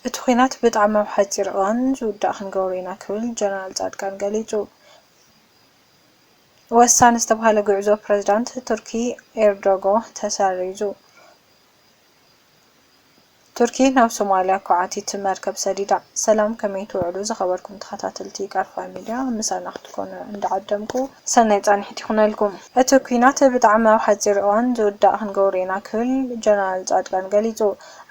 እቲ ኲናት ብጣዕሚ ኣብ ሓፂር እዋን ዝውዳእ ክንገብሮ ኢና ክብል ጀነራል ፃድቃን ገሊፁ። ወሳኒ ዝተብሃለ ጉዕዞ ፕረዚዳንት ቱርኪ ኤርዶጎ ተሰሪዙ። ቱርኪ ናብ ሶማሊያ ኳዕቲት መርከብ ሰዲዳ። ሰላም ከመይ ትውዕሉ ዝኸበርኩም ተኸታተልቲ ቃርፋ ሚድያ ምሳና ክትኮኑ እንዳዓደምኩ ሰናይ ፃንሒት ይኹነልኩም። እቲ ኲናት ብጣዕሚ ኣብ ሓፂር እዋን ዝውዳእ ክንገብሮ ኢና ክብል ጀነራል ፃድቃን ገሊፁ።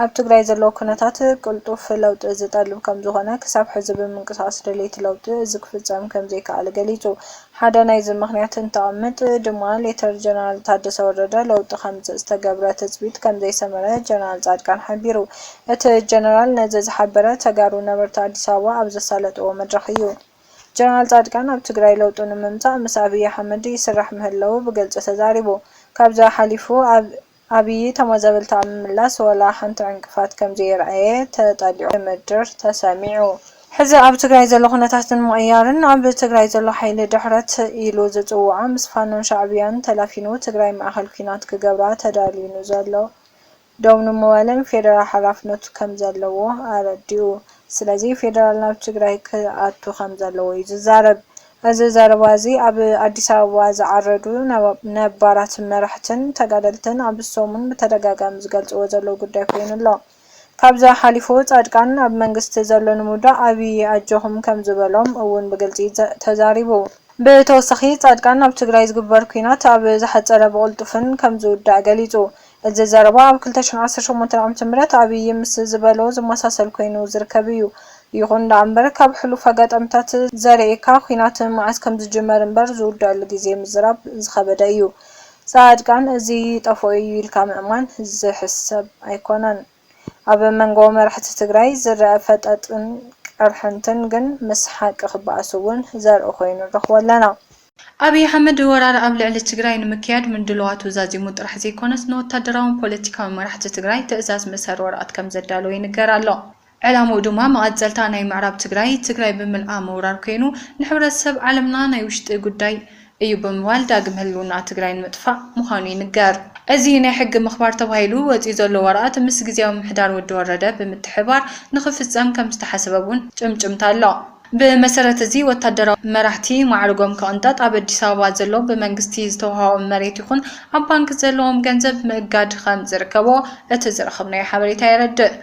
ኣብ ትግራይ ዘሎ ኩነታት ቅልጡፍ ለውጢ ዝጠልብ ከምዝኾነ፣ ክሳብ ሕዚ ብምንቅስቓስ ደለይቲ ለውጢ እዚ ክፍፀም ከምዘይከኣለ ገሊፁ። ሓደ ናይዚ ምኽንያት እንተቐምጥ ድማ ሌተር ጀነራል ታደሰ ወረደ ለውጢ ከምፅእ ዝተገብረ ትፅቢት ከምዘይሰመረ ጀነራል ፃድቃን ሓቢሩ። እቲ ጀነራል ነዚ ዝሓበረ ተጋሩ ነበርቲ ኣዲስ ኣበባ ኣብ ዘሳለጥዎ መድረኽ እዩ። ጀነራል ፃድቃን ኣብ ትግራይ ለውጢ ንምምፃእ ምስ ኣብይ ኣሕመድ ይስራሕ ምህላዉ ብግልፂ ተዛሪቡ። ካብዚ ሓሊፉ ኣብ። ኣብዪ ተመዛበልቲ ኣብ ምምላስ ዋላ ሓንቲ ዕንቅፋት ከምዘየርኣየ ተጠሊዑ ክምድር ተሰሚዑ። ሕዚ ኣብ ትግራይ ዘሎ ኩነታት ንምቕያርን ኣብ ትግራይ ዘሎ ሓይሊ ድሕረት ኢሉ ዝፅውዖ ምስ ፋኖን ሻዕብያን ተላፊኑ ትግራይ ማእኸል ኲናት ክገብራ ተዳልዩ ንዘሎ ደው ንምባልን ፌደራል ሓላፍነቱ ከምዘለዎ ኣረዲኡ። ስለዚ ፌደራል ናብ ትግራይ ክኣቱ ከምዘለዎ ዩ ዝዛረብ። እዚ ዘረባ እዚ ኣብ ኣዲስ ኣበባ ዝዓረዱ ነባራት መራሕትን ተጋደልትን ኣብዚ ሰሙን ብተደጋጋሚ ዝገልፅዎ ዘለዉ ጉዳይ ኮይኑ ኣሎ። ካብዚ ሓሊፉ ፃድቃን ኣብ መንግስቲ ዘሎ ንምውዳቕ ኣብዪ ኣጆኹም ከምዝበሎም እውን ብግልፂ ተዛሪቡ። ብተወሳኺ ፃድቃን ኣብ ትግራይ ዝግበር ኲናት ኣብ ዝሓፀረ ብቕልጡፍን ከምዝውዳእ ገሊፁ። እዚ ዘረባ ኣብ ክልተ ሽሕን ዓሰርተ ሸሞንተን ዓመተ ምህረት ኣብይ ምስ ዝበሎ ዝመሳሰል ኮይኑ ዝርከብ እዩ። ይኹን ደኣምበር ካብ ሕሉፍ ኣጋጣሚታት ዘርእየካ ኲናት መዓስ ከምዝጅመር እምበር ዝውደኣሉ ግዜ ምዝራብ ዝኸበደ እዩ። ፃድቃን እዚ ይጠፍኦ እዩ ኢልካ ምእማን ዝሕሰብ ኣይኮነን። ኣብ መንጎ መራሕቲ ትግራይ ዝረኣ ፈጠጥን ቅርሕንትን ግን ምስ ሓቂ ክበኣስ እውን ዘርኢ ኮይኑ ንረኽቦ ኣለና። ኣብይ ኣሕመድ ወራር ኣብ ልዕሊ ትግራይ ንምክያድ ምድልዋቱ ዛዚሙ ጥራሕ ዘይኮነስ ንወታደራውን ፖለቲካውን መራሕቲ ትግራይ ትእዛዝ ምእሳር ወረቐት ከምዘዳለወ ይንገር ኣሎ። ዕላምኡ ድማ መቐፀልታ ናይ ምዕራብ ትግራይ ትግራይ ብምልኣ ምውራር ኮይኑ ንሕብረተሰብ ዓለምና ናይ ውሽጢ ጉዳይ እዩ ብምባል ዳግም ህልውና ትግራይ ንምጥፋእ ምዃኑ ይንገር። እዚ ናይ ሕጊ ምኽባር ተባሂሉ ወፂኡ ዘሎ ወረቓት ምስ ግዝያዊ ምምሕዳር ወዲ ወረደ ብምትሕብባር ንኽፍፀም ከምዝተሓሰበ እውን ጭምጭምታ ኣሎ። ብመሰረት እዚ ወታደራዊ መራሕቲ ማዕርጎም ክቕንጠጥ፣ ኣብ ኣዲስ ኣበባ ዘሎ ብመንግስቲ ዝተውሃቦም መሬት ይኹን ኣብ ባንኪ ዘለዎም ገንዘብ ምእጋድ ከምዝርከቦ እቲ ዝረኸብናዮ ሓበሬታ የረድእ።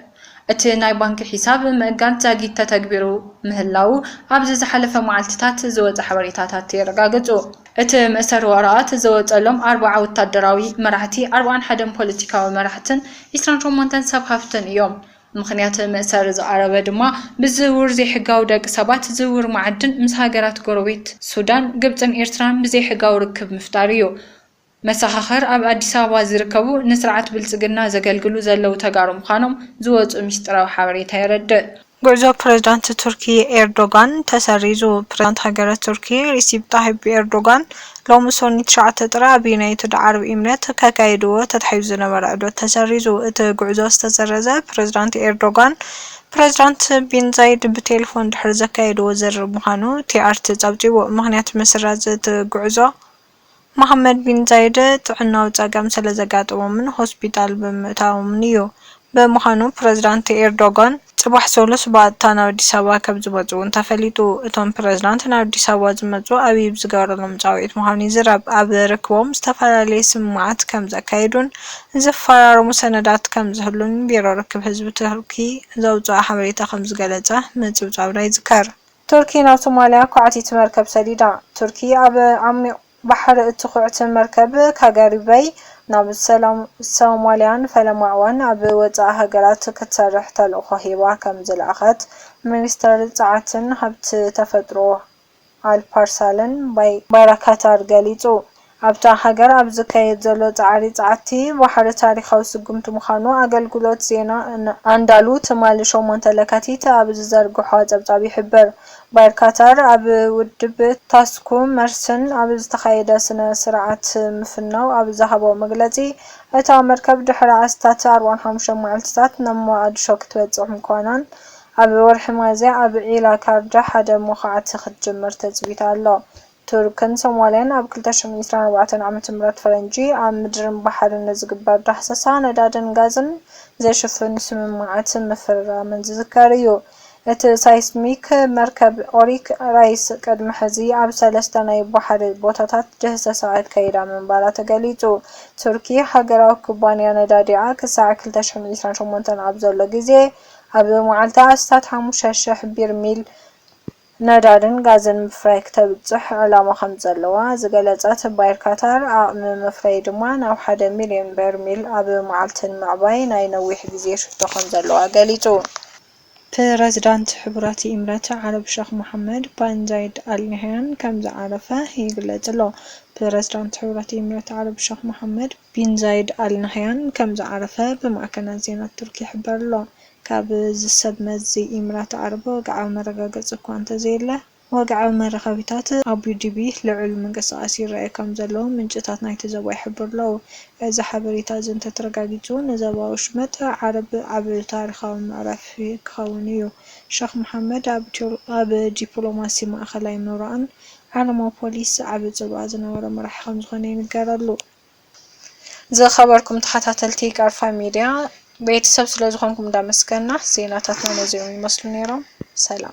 እቲ ናይ ባንኪ ሒሳብ ምእጋድ ዛጊት ተተግቢሩ ምህላዉ ኣብዚ ዝሓለፈ መዓልቲታት ዝወጸ ሓበሬታታት የረጋግጹ። እቲ መእሰሪ ወረቓት ዝወጸሎም ኣርብዓ ወታደራዊ መራሕቲ፣ ኣርብዓን ሓደን ፖለቲካዊ መራሕትን ዕስራን ሸሞንተን ሰብ ሃፍትን እዮም። ምኽንያት መእሰሪ ዝቐረበ ድማ ብዝውውር ዘይሕጋዊ ደቂ ሰባት፣ ዝውውር መዓድን፣ ምስ ሃገራት ጎረቤት ሱዳን፣ ግብጽን ኤርትራን ብዘይሕጋዊ ርክብ ምፍጣር እዩ። መሰኻኽር ኣብ ኣዲስ ኣበባ ዝርከቡ ንስርዓት ብልፅግና ዘገልግሉ ዘለዉ ተጋሩ ምዃኖም ዝወፅኡ ሚስጢራዊ ሓበሬታ የረድእ። ጉዕዞ ፕሬዝዳንት ቱርኪ ኤርዶጋን ተሰሪዙ። ፕሬዝዳንት ሃገረ ቱርኪ ሪሲፕ ጣሂፕ ኤርዶጋን ሎሚ ሰኑይ ትሽዓተ ጥሪ ኣብ ዩናይትድ ዓረብ ኢምሬት ከካይድዎ ተታሒዙ ዝነበረ ዑደት ተሰሪዙ። እቲ ጉዕዞ ዝተሰረዘ ፕሬዝዳንት ኤርዶጋን ፕሬዝዳንት ቢን ዛይድ ብቴሌፎን ድሕሪ ዘካየድዎ ዝርርብ ምዃኑ ቲኣርቲ ፀብፂቡ። ምኽንያት ምስራዝ እቲ ጉዕዞ። መሓመድ ቢን ዛይድ ጥዕናዊ ጸገም ስለዘጋጠሞምን ሆስፒታል ብምእታዎምን'ዩ። ብምዃኑ ፕረዚዳንት ኤርዶጋን ጽባሕ ሰሉስ ብቐጥታ ናብ ኣዲስ ኣበባ ከምዝመጽኡ'ውን ተፈሊጡ። እቶም ፕረዚዳንት ናብ ኣዲስ ኣበባ ዝመጽኡ ኣብይ ብዝገበረሎም ጻውዒት ምዃኑ ይዝረብ። ኣብ ርክቦም ዝተፈላለየ ስምምዓት ከምዘካየዱን ዝፈራረሙ ሰነዳት ከምዝህሉን ቢሮ ርክብ ህዝቢ ቱርኪ ዘውጽኦ ሓበሬታ ከምዝገለጸ ምጽብጻብና ይዝከር። ቱርኪ ናብ ሶማልያ ኳዕቲት መርከብ ሰዲዳ። ቱርኪ ኣብ ዓሚቕ ባሕሪ እትኹዕት መርከብ ካጋሪበይ ናብ ሰላም ሶማልያን ፈለማ'ውን ኣብ ወጻኢ ሃገራት ክትሰርሕ ተልእኾ ሂባ ከም ዝለኣኸት ሚኒስተር ጸዓትን ሃብቲ ተፈጥሮ ኣልፓርሳለን ባይራካታር ገሊጹ። ኣብታ ሃገር ኣብ ዝካየድ ዘሎ ጻዕሪ ጸዓቲ ባሕሪ ታሪኻዊ ስጉምቲ ምዃኑ ኣገልግሎት ዜና ኣንዳሉ ትማሊ ሸሞንተ ለካቲት ኣብ ዝዘርግሖ ጸብጻብ ይሕብር። ባይር ካታር ኣብ ውድብ ታስኩ መርስን ኣብ ዝተኻየደ ስነ ስርዓት ምፍናው ኣብ ዝሃቦ መግለጺ፣ እታ መርከብ ድሕሪ ኣስታት ኣርባዓን ሓሙሽተን መዓልቲታት ናብ ሞቓድሾ ክትበጽሕ ምዃናን ኣብ ወርሒ ሚያዝያ ኣብ ዒላ ካርድ ሓደ መኹዓቲ ክትጅምር ትጽቢት ኣሎ ቱርክን ሶማልያን ኣብ ክልተ ሽሕን ዒስራን ኣርባዕተን ዓመተ ምህረት ፈረንጂ ኣብ ምድርን ባሕርን ንዝግበር ዳህሰሳ ነዳድን ጋዝን ዘሽፍን ስምምዓት ምፍርራመን ዝዝከር እዩ። እቲ ሳይስሚክ መርከብ ኦሪክ ራይስ ቅድሚ ሕዚ ኣብ ሰለስተ ናይ ባሕሪ ቦታታት ድህሰሳ ኣካይዳ ምንባራ ተገሊጹ። ቱርኪ ሃገራዊ ኩባንያ ነዳዲኣ ክሳዕ ክልተ ሽሕን ዒስራን ሸሞንተን ኣብ ዘሎ ግዜ ኣብ መዓልቲ ኣስታት ሓሙሽተ ሽሕ ቢርሚል ነዳድን ጋዝን ምፍራይ ክተብጽሕ ዕላማ ከምዘለዋ ዝገለጸት ባይር ካታር፣ ዓቕሚ መፍረዪ ድማ ናብ ሓደ ሚልዮን በርሚል ኣብ መዓልቲ ንምዕባይ ናይ ነዊሕ ግዜ ሽቶ ከምዘለዋ ገሊጹ። ፕረዚዳንት ሕቡራት ኢምረት ዓረብ ሸኽ መሓመድ በን ዛይድ ኣል ናህያን ከም ዝዓረፈ ይግለጽ'ሎ። ፕረዚዳንት ሕቡራት ኢምረት ዓረብ ሸኽ መሓመድ ቢን ዛይድ ኣል ናህያን ከም ዝዓረፈ ብማዕከናት ዜና ቱርኪ ይሕበር'ሎ። ካብ እዚ ሰብ መዚ ኢምራት ዓረብ ወግዓዊ መረጋገጺ እኳ እንተዘየለ፣ ወግዓዊ መራኸቢታት ኣቡዲቢ ልዑል ምንቅስቓስ ይረኣዩ ከም ዘለዉ ምንጭታት ናይቲ ዞባ ይሕብሩ ኣለዉ። እዚ ሓበሬታ እዚ እንተ ተረጋጊጹ፣ ንዞባ ወሽመጥ ዓረብ ዓቢ ታሪኻዊ ምዕራፍ ክኸውን እዩ። ሸኽ መሓመድ ኣብ ዲፕሎማሲ ማእከላይ ምብራቕን ዓለማዊ ፖሊስ ዓቢ ጽልዋ ዝነበሮ መራሒ ከም ዝዀነ ይንገረሉ። ዝኸበርኩም ተኸታተልቲ ቃርፋ ሚድያ ቤተሰብ ስለዝኾንኩም እንዳመስገና ዜናታትና ነዚኦም ይመስሉ ነይሮም። ሰላም።